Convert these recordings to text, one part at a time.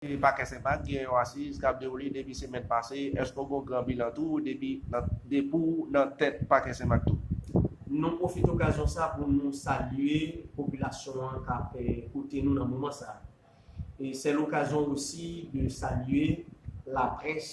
Yon pakèt senpak gen yon asiz kap dewoule depi semèn pase, èske w gen yon gran bilan tou depi nan depi w nan tèt pakè senmak tou? Nou pwofite okazyon sa pou nou salye popilasyon an kap koute nou nan moman sa. Se lokazyon osi de salye laprès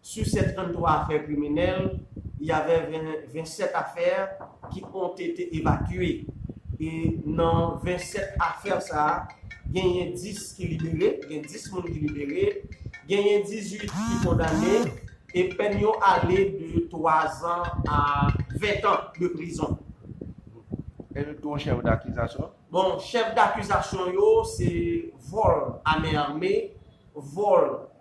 Su 713 afè kriminèl, y avè 27 afè ki ont ete evakye. E nan 27 afè sa, genyen 10 ki libere, gen 10 moun ki libere, genyen 18 ki kondane e pèn yo ale de 3 zan a 20 tan de prizon. E yo dou chèf dakizasyon? Bon, chèf dakizasyon yo se vòl a men ame, vòl.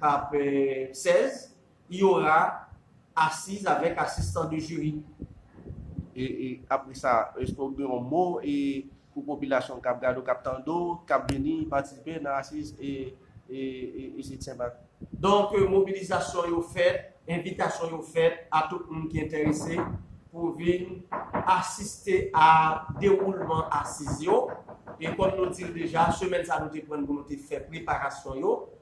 k ap 16, il y aura assises avec assistant de jury. E apre sa, èske ou gen yon mo pou popilasyon k ap gade w, k ap tande w, k ap vini patisipe nan asiz Isit Sen Mak? Donk mobilizasyon yo fèt, envitasyon yo fèt a tout moun ki enterese pou vin asiste a dewoulman asiz yo. E kòm nou di l deja, semèn sa a nou te pran l pou nou te fè preparasyon yo.